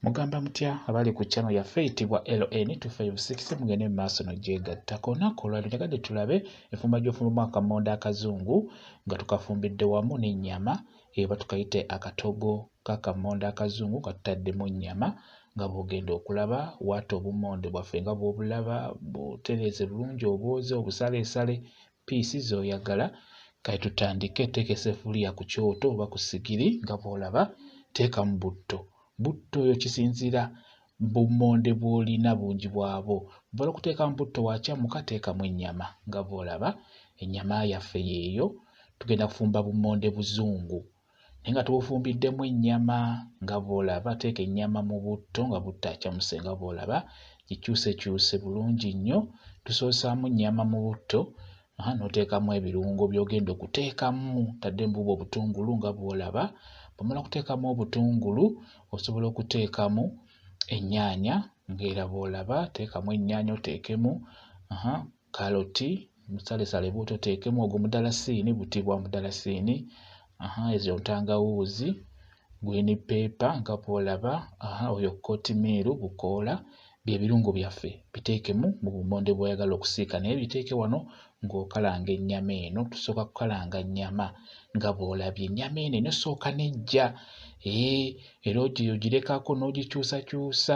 Mugamba mutya abali ku channel yaffe eyitibwa LN 256 mugende mu maaso no gyegatta konaku olwali njagadde tulabe enfumba gy'ofumbamu akamonda akazungu nga tukafumbidde wamu n'ennyama eba tukayite akatogo k'akamonda akazungu nga tutaddemu nnyama nga bw'ogenda okulaba waata obumonde bwaffe nga bw'obulaba butereeze bulungi obwoze obusaleesale piisi z'oyagala kati tutandike teeka esefuliya ku kyoto oba ku sigiri nga bw'olaba teekamu butto butto oyo kisinziira bummonde bw'olina bungi bwabwo bw'ola okuteekamu butto wakyamuka teekamu ennyama nga bw'olaba ennyama yaffe yeeyo tugenda kufumba bummonde buzungu naye nga tubufumbiddemu ennyama nga bw'olaba teeka ennyama mu butto nga buttacamuse nga bw'olaba gikyusekyuse bulungi nnyo tusoosaamu nnyama mu butto aha n'oteekamu ebirungo by'ogenda okuteekamu tadde mbuuba obutungulu nga bw'olaba bwomala okuteekamu obutungulu osobola okuteekamu ennyaanya ng'era bw'olaba teekamu ennyaanya oteekemu aha kaloti musalesale buto teekemu ogwo mudalasiini buti bwa mudalasiini aha ezo ntangawuuzi green paper nga bwolaba aha oyo kotimiiru bukoola bye birungo byaffe biteekemu mu bumonde bw'oyagala okusiika naye biteeke wano ng'okalanga ennyama eno tusooka kukalanga nnyama nga bw'olabye ennyama eno eno sooka nejja ee eh, era ogiyo girekako n'ogikyusakyusa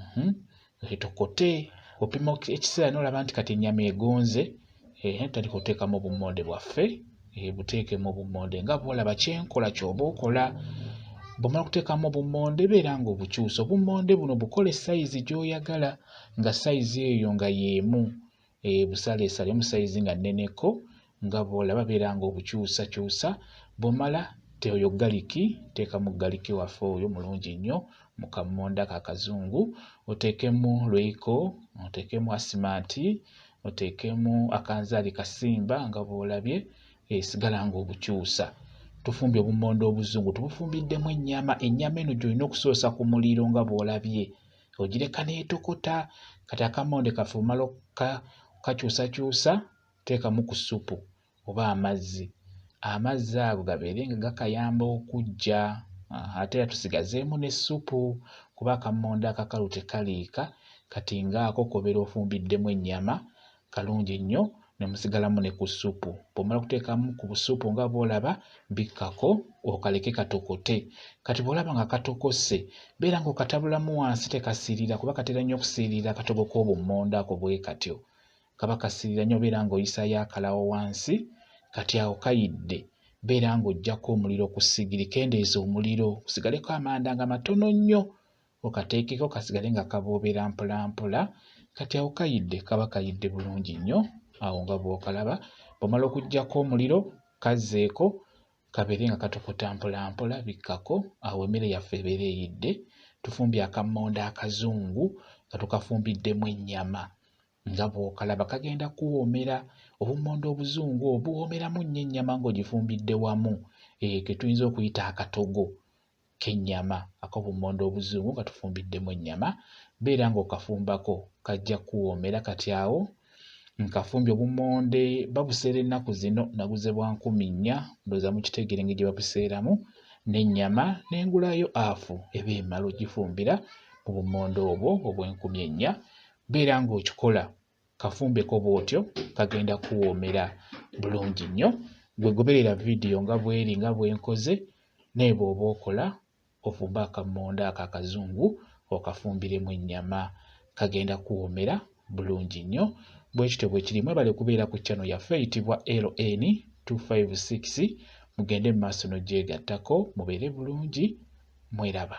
mhm. etokote opima ekiseera nolaba nti kati enyama egonze eh, tutandika oteekamu obummonde bwaffe eh, buteekemu obummonde nga bwolaba kyenkola kyoba okola bwomala okuteekamu obummonde beera nga obukyusa obummonde buno bukole sayizi gyoyagala nga sayizi eyo nga yeemu e, busaleesale mu sayizi nga nneneko nga bw'olaba beera ng'obukyusakyusa bw'omala oyo galiki teekamu galiki waffe oyo mulungi nnyo mu kammonda ka kazungu oteekemu lweiko oteekemu asimanti oteekemu akanzaali kasimba nga bw'olabye esigala eh, ng'obukyusa tufumbye obummonde obuzungu tubufumbiddemu ennyama ennyama eno gy'olina okusoosa ku muliro nga bw'olabye ogireka n'etokota kati akamonde kaffe omala okakyusakyusa teekamu ku ssupu oba amazzi amazzi ago gabeere nga gakayamba okuggya ate era tusigazeemu n'essupu kuba akammonde akakalu tekaliika kati ng'ako kobeera ofumbiddemu ennyama kalungi nnyo ne musigalamu ne ku ssupu. Bw'omala okuteekamu ku busupu nga bw'olaba bikkako okaleke katokote. Kati bw'olaba nga katokose beera ng'okatabulamu wansi tekasiirira kuba katera nnyo okusiirira akatogo k'obummonde ako bwe katyo. Kaba kasiirira nnyo beera ng'oyisaayo akalawo wansi kati awo kayidde beera ng'oggyako omuliro ku ssigiri kendeeza omuliro kusigaleko amanda nga matono nnyo okateekeko kasigale nga kaboobera mpolampola kati awo kayidde kaba kayidde bulungi nnyo awo nga bw'okalaba bw'omala okuggyako omuliro kazzeeko kabeere nga katokota mpolampola bikkako awo emmere yaffe ebeera eyidde tufumbye akammonde akazungu nga tukafumbiddemu ennyama nga bw'okalaba kagenda kuwoomera obummonde obuzungu obuwoomeramu nnyo ennyama ng'ogifumbidde wamu eyo ke tuyinza okuyita akatogo k'ennyama ak'obummonde obuzungu nga tufumbiddemu ennyama beera ng'okafumbako kajja kukuwoomera kati awo nkafumbye obummonde babuseera ennaku zino naguze bwa nkumi nnya ndowooza mukitegeera engeri gye babuseeramu n'ennyama n'engulayo afu eba emala ogifumbira mu bummonde obwo obw'enkumi ennya beera ng'okikola kafumbeko bw'otyo kagenda kuwoomera bulungi nnyo gwe goberera vidiyo nga bweri nga bwenkoze naye bw'oba okola ofumbe akammonde ako akazungu okafumbiremu ennyama kagenda kuwoomera bulungi nnyo bwe kityo bwe kiri mwebale kubeera ku channel yaffe eyitibwa ln 256 mugende mu maaso n'ogyegattako mubeere bulungi mweraba